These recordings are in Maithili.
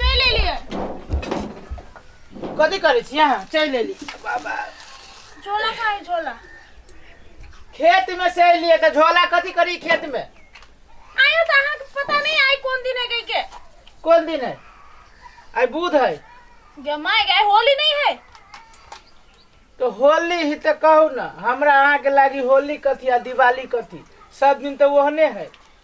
चलि एलियै कथी करै छी अहाँ चलि एली बाबा झोला खाए झोला खेत में से एलियै तऽ झोला कथी करी खेत में आयो तऽ अहाँके पता नहीं आई कोन दिन है गई के कोन दिन है आइ बुध है गे माय गए होली नहीं है तो होली ही तो कहू ना हमरा अहाँ के लागी होली कथी आ दिवाली कथी सब दिन तो ओहने है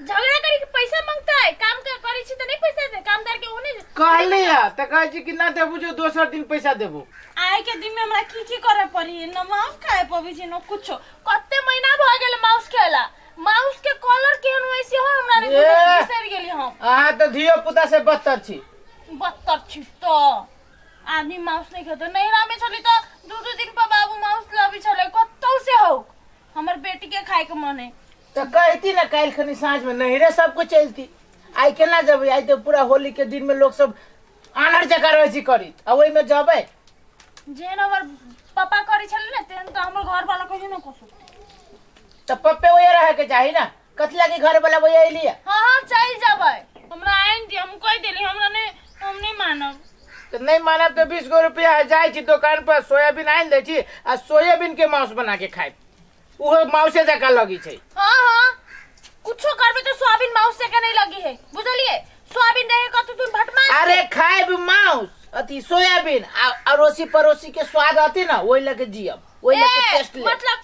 झगड़ा करी के पैसा मांगता है काम कर करी छी त नहीं पैसा दे काम करके ओने कहली है तो कहे छी कि ना देबू जो दोसर दिन पैसा देबू आए के दिन में हमरा की की करे पड़ी न माउस खाए पबी छी न कुछो कते महीना भ गेल माउस खेला माउस के कलर केहन होय से हो हमरा रे ए! बिसर गेली हम अहाँ तो धियो पुता से बदतर छी बत्तर छी तो आदमी माउस नहीं खेतो नहीं रामे छली तो दू दू दिन पर बाबू माउस लाबी छले कतौ से हो हमर बेटी के खाए के मन है तऽ कहिती ने काल्हिखनि साँझमे नैहरे सभके चलिती आइ केना जेबै आइ तऽ पूरा होलीके दिनमे लोकसभ आन्हर जकाँ रहै छै करैत आ ओहिमे जेबै जेहन हमर पापा करै छलै ने तेहन तऽ हमर घरवाला कहियो नहि कऽ सकतै तऽ पप्पे ओहे रहैके चाही ने कथी लगी घरवला ओहे अयलियै हँ हँ चलि जेबै हमरा आनि दिअ हम कहि देली हमरा नहि हम नहि मानब तऽ नहि मानब तऽ बीस गो रुपया जाइ छी दोकान पर सोयाबीन आनि दै छी आ सोयाबीन के माउस बना के खाएब उहे मौसे जका लगी छै हाँ हाँ कुछो करबे तो सोयाबीन माउस से के नहीं लगी है बुझलिए सोयाबीन रहे कत तुम भटमा अरे खाएब मांस अथी सोयाबीन आ अड़ोसी पड़ोसी के स्वाद आते ना ओहि लगे जियब ओहि लगे टेस्ट ले मतलब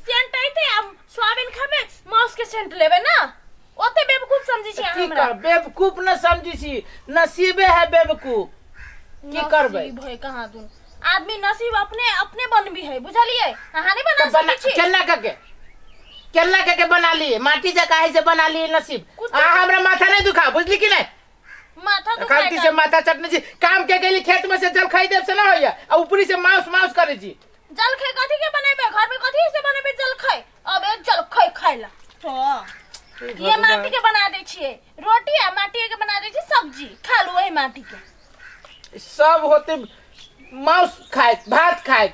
सेंट आते हम सोयाबीन खाबे माउस के सेंट लेबे ना ओते बेवकूफ समझै छी अहाँ की हमरा कर बेवकूफ न समझी छी नसीबे है बेवकूफ की करबै नसीब है कहाँ दून आदमी नसीब अपने अपने बनबी है बुझलियै अहाँ नहि बना तऽ बना सकै छी केना कऽ के केना कऽ के बना ली माटी जकाँ है से बना ली नसीब कुछ- अहाँ हमरा माथा नहि दुखा बुझली कि नहि माथा दुखाय खालती से काहे? माथा चटने छी काम के गेली खेत में से जल खाई देब से ना होइया आ ऊपरी से माउस माउस करे छी जलखै कथी के बनेबे घर में कथी से बनेबे जलखै अबे चल खै खाय ला हाँ। ई ये भगवान। माटी के बना दे छिए रोटी आ माटी के बना दे छिए सब्जी खा लो वही माटी के सब होते मांस खाए भात खाए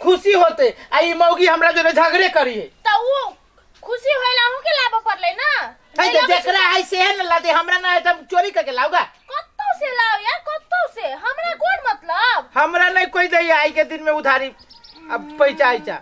खुशी होते आ ई मौगी हमरा जोरे झगड़े करी है त उ खुशी होइला हूं के लाभ पड़ले ना है जे जेकरा है से है न लादे हमरा ना है त हम चोरी करके लाऊगा कत्तो से लाओ यार कत्तो से हमरा कोन मतलब हमरा नहीं कोई दे आई के दिन में उधारी अब पैसा आइचा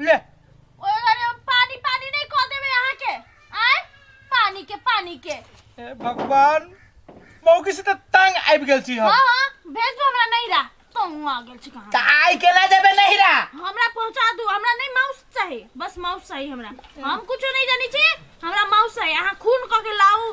ले ओए अरे हम पानी पानी नहीं कह देबे अहाँ के आय पानी के पानी के ए भगवान मौकी से त तंग आबि गेल छी हम हाँ हाँ भेज दो हमरा नहीं रहा तो हूँ आ गेल छी कहाँ त आइ केला जेबे नहीं रा हमरा पहुंचा दू हमरा नहीं माउस चाहिए बस माउस चाहिए हमरा हम कुछो नहीं जानी छी हमरा माउस चाहिए अहाँ खून क के लाऊ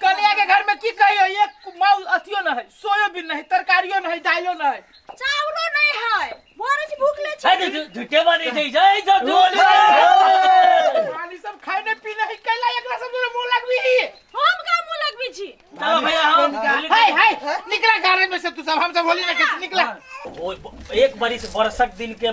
कलिया के घर में की कहियो एक माउ अथियो न है सोयो भी नहीं तरकारियो न है दालियो न है चाउरो नहीं है बोरे से भूख ले छै छी झुटे बने छै जय जय जय खाली सब खाने पीने है कैला एकरा सब में मुंह लगबी हम का मुंह लगबी छी चलो भैया हम हाय हाय निकला गाड़ी में से तू सब हम सब होली ना खेल निकला ओ, एक बरिस बरसक दिन के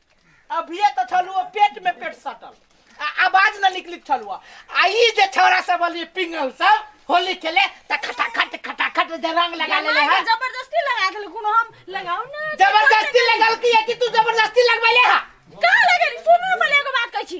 अभिये तो छलुआ पेट में पेट सटल आ आवाज न निकली छलुआ आ ई जे छौरा सब अली पिंगल सब होली खेले त खटाखट खटाखट जे रंग लगा ले ले है जबरदस्ती लगा देल कोनो हम लगाऊ ना जबरदस्ती लगल की है कि तू जबरदस्ती लगबैले है का लगेली सुन ना पहिले एगो बात कहै छी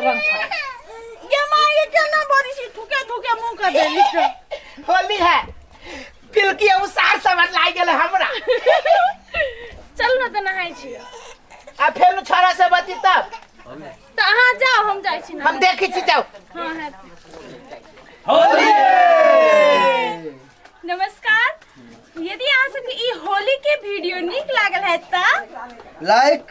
ये माँ ये क्या ना बोल रही थूके थूके मुंह कर दे लिखो होली है पिलकी हम सार समझ लाग गेल हमरा चल ना तो नहाई छी आ फेर उ छोरा से बती तब तो अहाँ जाओ हम जाई छी ना हम देखी छी जाओ हाँ है नमस्कार यदि अहाँ सबके ई होली के वीडियो नीक लागल है त लाइक